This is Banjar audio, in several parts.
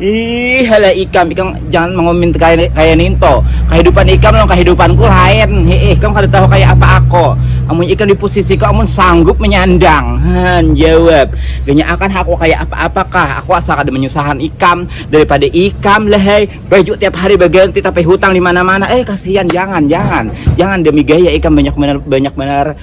Ih halah ikam, ikam jangan mengoment kaya ninto, kahidupan ikam lawan kahidupanku lain, hiih ikam kada tahu kaya apa ako, amunnya ikam dipusisiku amun sanggup menyandang, haan jawab, ganya akan ha aku kaya apa apa kah, aku asa kada menyusahan ikam, daripada ikam lahai, baju tiap hari baganti tapi hutang dimana mana, eh kasihan jangan jangan jangan demi gaya ikam banyak banar banyak banar.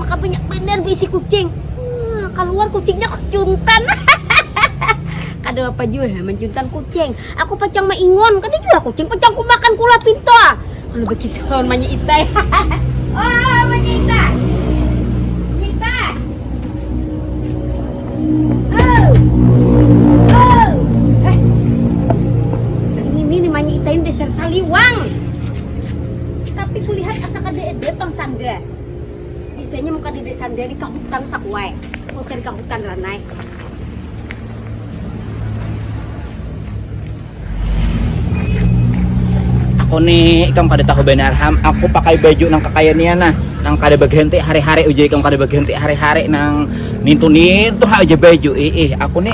Maka banyak banar baisi kucing. Hmm, kaluar kucingnya kucuntan. kada apa jua ya mancuntan kucing. Aku pacang maingon, kada jua kucing pacang kumakan kula pinto. Ah. Kalau bakisah lawan Manya Itai. oh, Manya Itai. Itai dasar saliwang. Tapi kulihat asa kada ada pang sanda. Bisanya muka di desa Andia ni ka hutan sakuai. Kau cari ka hutan ranai. Aku ni ikam kada tahu banar ham, aku pakai baju nang kakaya nia nah, nang kada baganti hari-hari ujar ikam kada baganti hari-hari nang nintu-nintu ha ujar baju, iih aku ni.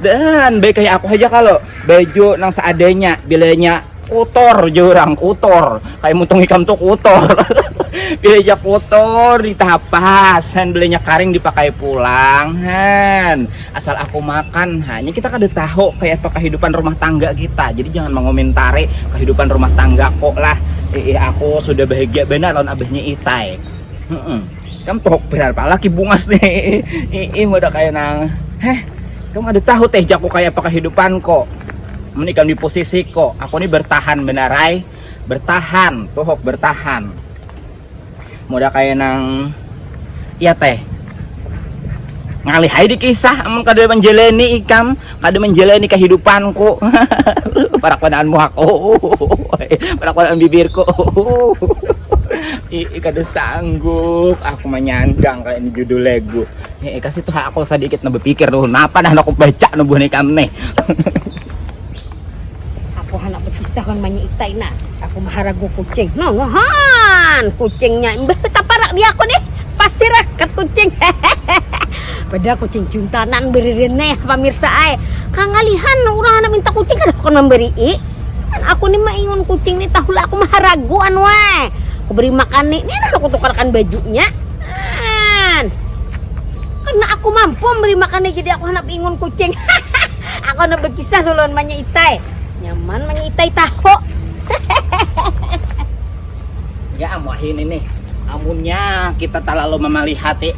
Dan baik kayak aku aja kalau baju nang seadanya bilanya kotor jurang kotor kayak mutung ikam tuh kotor bilanya kotor ditapas han bilanya karing dipakai pulang han asal aku makan hanya kita kada tahu kayak apa kehidupan rumah tangga kita jadi jangan mengomentari kehidupan rumah tangga kok lah eh aku sudah bahagia benar lawan abahnya itai hmm. kam tohok benar pala ki bungas nih ii udah kayak nang heh kam ada tahu teh jaku kayak apa kehidupan kok meni kam di posisi kok aku nih bertahan benarai bertahan tohok bertahan udah kayak nang ya teh ngalih hai di kisah emang kada menjeleni ikam Kada manjalani kahidupanku. Parakuanaan muhak. Parakuanaan bibirku. Iih kada sanggup aku manyandang kaya ini judul lagu. Iih kasih tuh aku sadikit nah bapikir tuh napa nah aku baca buhan ikam nih. Aku handak berpisah wan manyi itai nah. Aku maharagu kucing. Nah wahaan kucingnya imbah takaparak di aku nih. Pasir rakat kucing. Padahal kucing cuntanan beririn nih pamirsa ai. Kangalihan urang handak minta kucing kada hakun mambarii. Kan aku nih maingun kucing nih tahulah aku maharagu an weh. Aku beri makan nih. Nih nah aku tukarkan bajunya. Nah. Karena aku mampu memberi makan nih jadi aku handak beingun kucing. Aku handak bakisah lo lawan Manya Itai. Nyaman Manya Itai taho. Ya am wahini nih, amunnya kita talalu mamalihati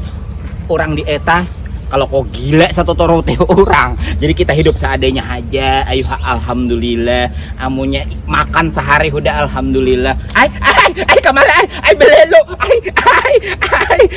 urang di etas, kalau ko gila satuturuti urang. Jadi kita hidup seadanya haja, ayuha alhamdulillah. Amunnya makan sahari hudah alhamdulillah. Ai, ai, ai kamala ai, ai belelo, ai, ai, ai.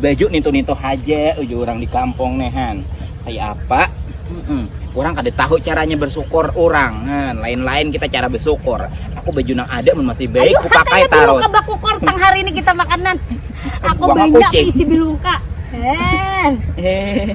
Baju nintu-nintu haja uju urang di kampung ne han. Kaya apa? Mm-mm. Urang kada tahu caranya bersyukur urang. Han, lain-lain kita cara bersyukur. Aku baju nang ada mun masih baik ku pakai tarus. Biluka bakukor tang hari ini kita makanan. Aku banyak isi biluka. Hen. Eh.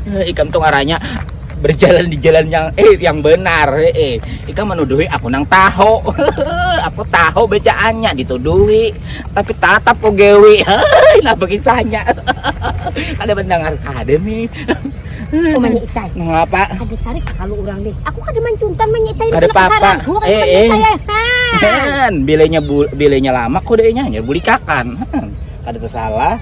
eh, ikam tuh ngaranya berjalan di jalan yang eh yang benar eh, eh. ikam menuduhi aku nang tahu aku tahu bacaannya dituduhi tapi tatap kok gewi nah begisannya ada mendengar ada nih Oh, itai. Mengapa? Ada sarik kalau orang deh. Aku kada mancuntan menyeitai. Kada apa-apa. Eh, eh. Kan, bilenya bilenya lama kok dehnya hanya buli kakan. Kada tersalah.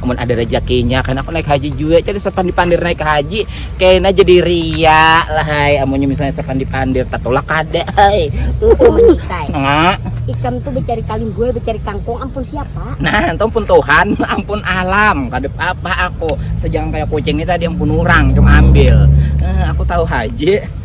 amun ada rejakinya kan aku naik haji jua cari sepandi pandir naik haji kena jadi ria lah hai amunnya misalnya sepandi pandir tatulak kada hai uh, uh. ikam tuh mencari kaling gue mencari kangkung ampun siapa nah itu ampun Tuhan ampun alam kada apa aku sejangan kayak kucing ini tadi ampun orang cuma ambil uh, aku tahu haji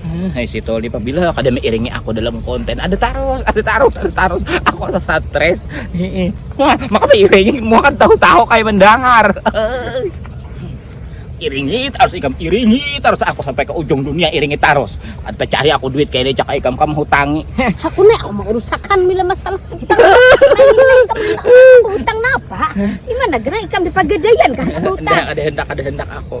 Hmm, hai si Toli pabila kada mengiringi aku dalam konten ada taros ada taros ada taros aku ada stres heeh wah maka mengiringi mau kan tahu-tahu kayak mendengar iringi taros ikam iringi taros aku sampai ke ujung dunia iringi taros ada cari aku duit kayak ini cak ikam kamu hutangi aku nih aku mau urusakan bila masalah hutang hutang napa gimana gerai ikam di pagadayan kan hutang ada hendak ada hendak aku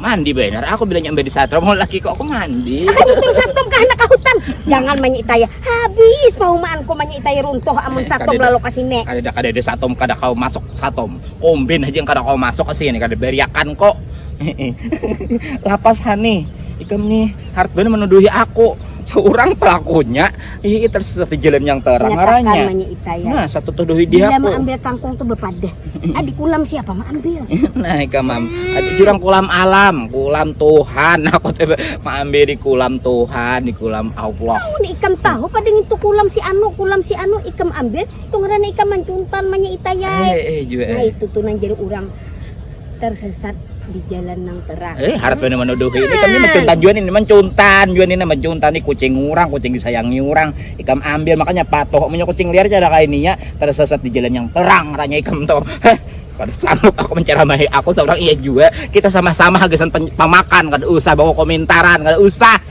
Mandi benar aku bilanya ambil di satrom mau laki kok aku mandi. Runtuh satrom ke anak hutan. Jangan manyi taya. Habis paumaanku manyi taya runtuh amun satrom lalu ke sini. Kadada kadada satrom kada kau masuk satrom. Kombin haja yang kada kau masuk ke sini kada bariakan ko. Lapas ha nih. Ikam nih hard banar menuduhi aku. Seorang pelakunya. Iya itu satu jalan yang terang arahnya. Nah, satu tuh dohi dia. Bila ambil kangkung tuh bepadah. Adik kulam siapa mah ambil? nah, ika mam. Adik jurang kulam alam, kulam Tuhan. Aku tuh ambil di kulam Tuhan, di kulam Allah. Tahu nih ikam tahu pada itu kulam si anu, kulam si anu ikam ambil, tuh ngerana ikam mancuntan manya itayai. Eh, eh, eh, nah, eh. itu tuh nang jadi orang tersesat di jalan nang terang. Eh, harap ini menuduhi ini kan ini mencuntan juan ini mencuntan juan ini mencuntan ini kucing orang, kucing disayangi orang, ikam ambil makanya patuh punya kucing liar cara kayak ini ya tersesat di jalan yang terang ranya ikam tuh. Heh, kada sanggup aku menceramahi aku seorang iya juga kita sama-sama hagisan pemakan kada usah bawa komentar, kada usah.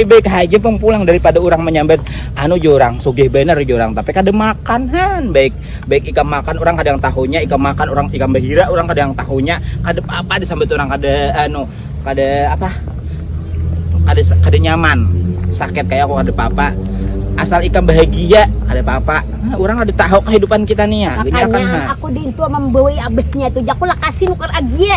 Ih baik haja pang pulang daripada orang menyambat anu jo orang sugih bener jo orang tapi kada makan han baik baik ikam makan orang kada yang tahunya ikam makan orang ikam bahira orang kada yang tahunya kada apa-apa disambat orang kada anu kada apa kada kada nyaman sakit kayak aku kada apa-apa asal ikam bahagia kada apa-apa nah, orang kada tahu kehidupan kita nih ya makanya kan, aku di itu membawai abahnya itu jaku lakasin ukar agie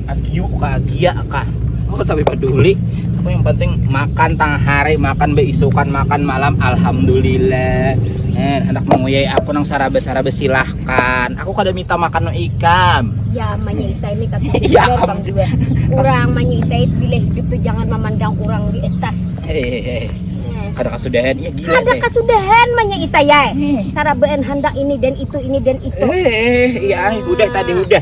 agiu kah agia kah aku tapi peduli aku yang penting makan tang hari makan beisukan makan malam alhamdulillah eh, anak menguyai aku nang sarabe sarabe silahkan aku kada minta makan no ikam ya manyita ini kata ya, bang dua orang manyita itu bila hidup tuh jangan memandang orang di atas hehehe kada kasudahan ya gila kada eh. kasudahan manya ita ya eh. hmm. sarabeen handak ini dan itu ini dan itu eh iya udah tadi udah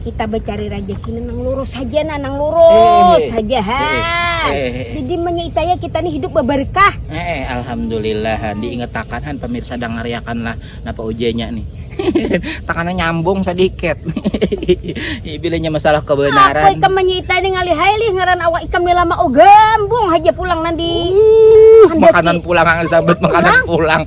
kita becari rajaki nang lurus haja nah nang lurus haja ha jadi menyeitaya kita nih hidup beberkah eh alhamdulillah han diingatakan han pemirsa dangariakan lah napa ujanya nih takana nyambung sedikit bilanya masalah kebenaran apa ikam menyeita nih ngalih hailih ngaran awak ikam nih lama oh gambung haja pulang nandi uh, makanan pulang sambat makanan pulang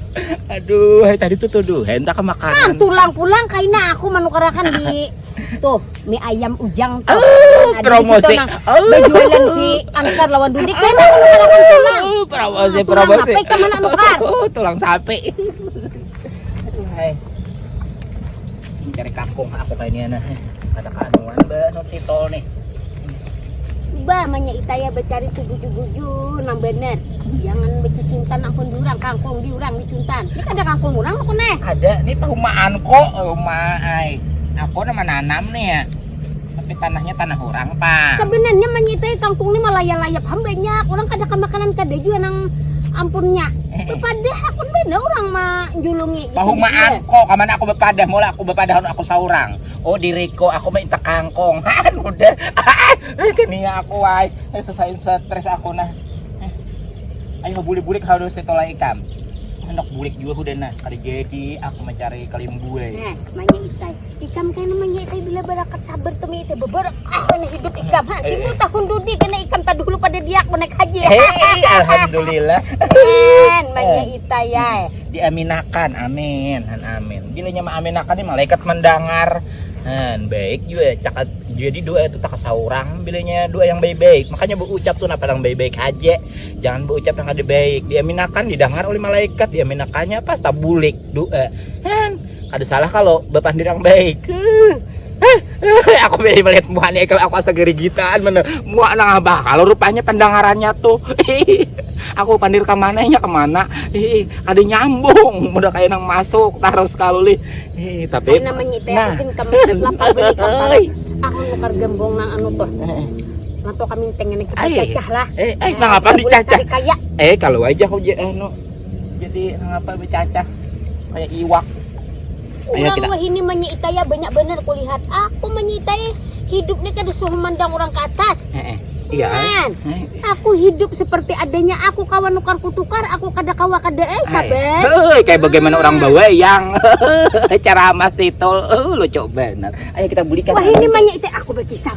Aduh, hai tadi tuh tuduh, hai entah kemakanan. Nah, tulang pulang kaina aku menukarakan di tuh mie ayam ujang tuh. Oh, nah, promosi. Nang, oh. Berjualan si angkar lawan dudik kaina menukarakan tulang. Oh, promosi, nah, promosi. Tulang sapi kemana nukar? Oh, tulang sapi. Cari kampung aku kayak ini nah. Ada kanuan bah no si tol nih. Bah, manya itaya bercari tuh buju-buju nang bener. Jangan bercuntan nang pun diurang, kangkung diurang dicuntan. Ini ada kangkung urang aku nih. Ada, ini pahumaan kok, oh, rumah ai. Aku nama nanam nih ya. Tapi tanahnya tanah urang pang. Sabenarnya manyitai kangkung ni malaya-layap ham banyak urang kada kamakanan kada jua nang ampunnya bepadah hakun banar urang manjulungi di sini jua. Pahumaan ko kamana aku bepadah mula aku bepadah anu aku saurang. Oh diriko aku minta kangkung haan udah haan kania aku ai sesain stres aku nah. Ayo bulik-bulik hal dosa tola ikam. Anak bulik jua hudah nah kada jadi aku mencari kalimbue. Nah, manya itai. Ikam kena manyai tadi bila barakat sabar tu miyai teh beberek ah kena hidup ikam ha timbul tahun dudi kena ikam tadahulu pada diak menek haji hei alhamdulillah men manyai tayai diaminakan amin han amin bila nya maaminakan ni malaikat mendengar han baik juga cakat jadi doa itu tak seorang bila nya doa yang baik-baik makanya berucap tu napa yang baik-baik aja jangan berucap yang ada baik diaminakan didengar oleh malaikat diaminakannya pas tabulik doa han Kada salah kalau bapandir yang baik. aku beli melihat muanya kalau aku asa gerigitan mana mua nang abah kalau rupanya pendengarannya tuh aku pandir ke mana ya kemana ih ada nyambung udah kayak nang masuk terus kaluli ih tapi Ay, namanya itu nah. aku kamu lapar beli kapal aku nukar gembong nang anu tuh Nato kami tengen kita cacah lah. Eh, eh, eh nang apa dicacah? Eh, kalau aja aku anu jadi apa bercacah kayak iwak orang kita... wahini menyitaya banyak bener kulihat aku menyitai hidupnya kada suruh mandang orang ke atas eh, eh. Iya, kan? Eh. Aku hidup seperti adanya aku kawan nukar kutukar, aku kada kawa kada eh sabar. Hei, kayak bagaimana orang bawa yang cara masih tol, uh, lucu benar. Ayo kita belikan. Wah ini banyak itu aku berkisah.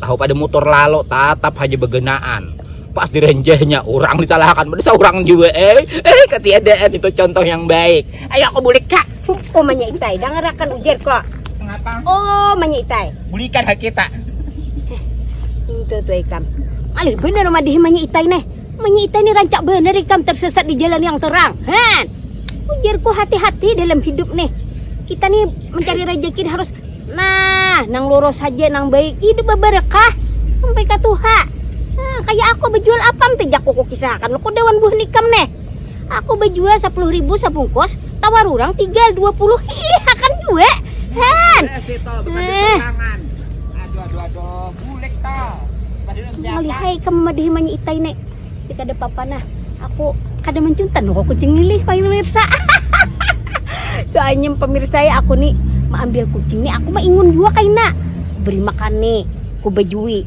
tahu pada motor lalu tatap haja begenaan pas direnjehnya orang disalahkan pada seorang juga eh eh ketiadaan itu contoh yang baik ayo aku bulik kak oh manya itai dangarakan ujar kok mengapa oh manya itai bulikan hak kita itu tuh ikam malih bener madih manya itai nih manya itai nih rancak bener ikam tersesat di jalan yang terang han ujarku hati-hati dalam hidup nih kita nih mencari rezeki harus Nah, nang lurus haja nang baik, hidup babarakah sampai ka tuha. Nah, kaya aku bajual apam ti jak ku kukisahakan lu kuda wan buhan ikam neh. Aku bajual sapuluh ribu sabungkus, tawar urang tiga dua puluh hihihakan jua. Han. Eh. Malihai ikam mamadahi manya itai ne. tapi kada apa-apa nah aku kada mancuntan aku kucing ini pemirsa soalnya pemirsa ya aku nih ambil kucing nih aku mah ingun juga kaina beri makan nih ku bejui